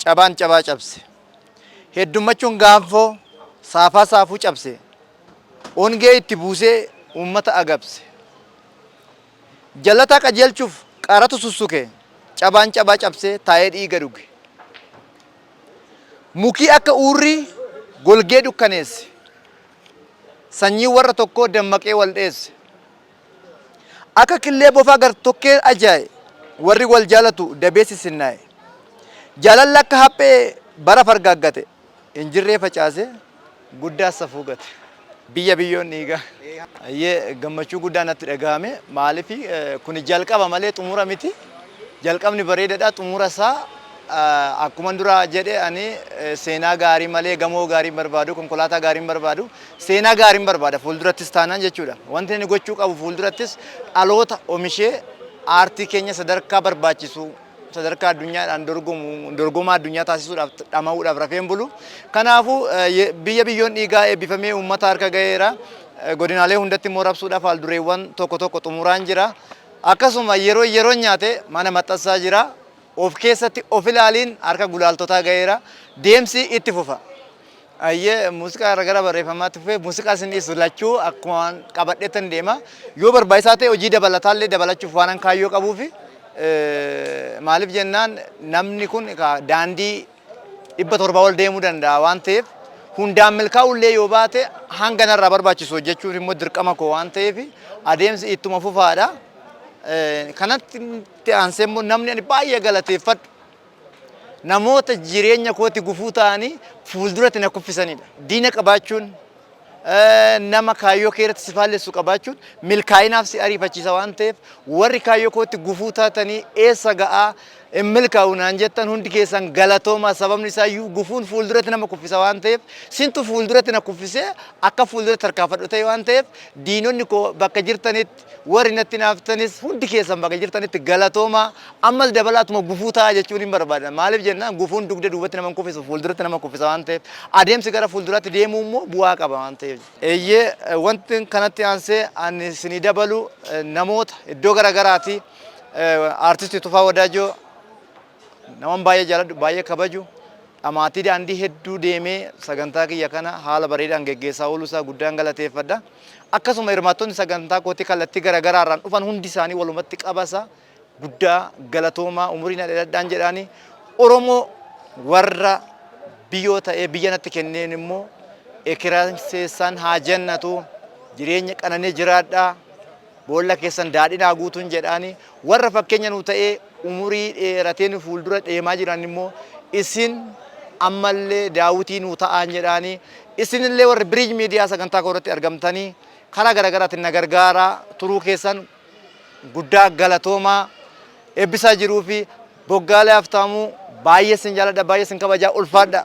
Cabaan cabaa cabse. Heddummachuun gaanfoo saafaa saafuu cabse. Ongee itti buusee uummata agabse. Jallataa qajeelchuuf qaaratu sussuke. Cabaan cabaa cabsee taa'ee dhiiga dhuge. Mukii akka uurrii golgee dukkaneesse. Sanyiin warra tokkoo dammaqee wal dheesse. Akka killee bofaa gartokkeen ajaa'e Warri wal jaalatu dabee sisinnaa'e Jaalalli akka haphee bara fargaaggate Hin jirree facaasee guddaa safuu gate Biyya biyyoon dhiigaa Ayyee gammachuu guddaa natti dhagahame maaliif kuni jalqaba malee xumura miti jalqabni bareedadha xumura isaa akkuman duraa jedhe ani seenaa gaarii malee gamoo gaarii hin barbaadu konkolaataa gaarii hin barbaadu Seenaa gaariin barbaada fuuldurattis taanaan jechuudha. Wanti inni gochuu qabu fuuldurattis dhaloota omishee aartii keenya sadarkaa barbaachisu sadarkaa addunyaadhaan dorgomu dorgomaa addunyaa taasisuudhaaf dhama'uudhaaf rafeen bulu. Kanaafuu biyya biyyoon dhiigaa eebbifamee uummata harka ga'eera. Godinaalee hundatti immoo rabsuudhaaf haaldureewwan tokko tokko xumuraan jira. Akkasuma yeroo yeroon nyaate mana maxxansaa jira. Of keessatti of ilaaliin harka gulaaltotaa ga'eera. Deemsi itti fufa. Ayyee muuziqaa irra gara barreeffamaatti fufee muuziqaa isin dhiisu lachuu akkuma waan qabadheettan deema. Yoo barbaachisaa ta'e hojii dabalataallee dabalachuuf waanan kaayyoo qabuufi eh, maaliif jennaan namni kun egaa daandii dhibba torba ol deemuu danda'a waan ta'eef hundaan milkaa'ullee yoo baate hanga narraa barbaachisu hojjechuuf immoo dirqama koo waan ta'eef adeemsi ittuma fufaadha. Eh, Kanatti aansee immoo namni ani baay'ee galateeffadhu Namoota jireenya kooti gufuu ta'anii fuulduratti na kuffisanidha. Diina qabaachuun, nama kaayyoo kee irratti si faallessu qabaachuun milkaa'inaaf si ariifachiisa waan ta'eef warri kaayyoo kootti gufuu taatanii eessa ga'aa hin milkaa'u naan jettan hundi keessan galatoomaa sababni isaa iyyuu gufuun fuulduratti nama kuffisa waan ta'eef sintu fuulduratti na kuffisee akka fuulduratti tarkaanfadhu ta'e waan ta'eef diinonni koo bakka jirtanitti Warri natti hinaaftanis hundi keessan bakka jirtanitti galatoomaa. Ammas dabalaatuma gufuu ta'aa jechuunin barbaada. Maaliif jennaan gufuun dugda duubatti nama hin kuffisu, fuulduratti nama kuffisa waan ta'eef. Adeemsi gara fuulduraatti deemuu immoo bu'aa qaba waan ta'eef. Eeyyee, wantin kanatti aansee ani isinii dabalu namoota iddoo gara garaatii Artisti Tufaa Wadaajoo, Naman baay'ee jaaladhu, baay'ee kabaju, dhamaatii daandii hedduu deemee sagantaa kiyya kana haala bareedaan geggeessaa ooluu isaa guddaan galateeffadha. Akkasuma hirmaattonni sagantaa kootii kallattii garaagaraa irraan dhufan hundi isaanii walumatti qabasa guddaa galatoomaa umurii na dheeradhaan jedhaani Oromoo warra biyoo ta'ee biyya natti kenneen immoo ekiraan seessaan haa jannatu jireenya qananii jiraadhaa Boolla keessan daadhiin haa guutuun jedhaani. Warra fakkeenya nuu ta'ee umurii dheeratee nu fuuldura deemaa jiran immoo isin ammallee daawwitii nuu ta'aan jedhaani. Isinillee warri Biriij Miidiyaa sagantaa koo irratti argamtanii karaa garagaraatiin na gargaaraa turuu keessan guddaa galatoomaa. Eebbisaa Jiruu fi Boggaalee Haftaamuu baay'ee sin jaaladha, baay'ee sin kabajaa ulfaadhaa.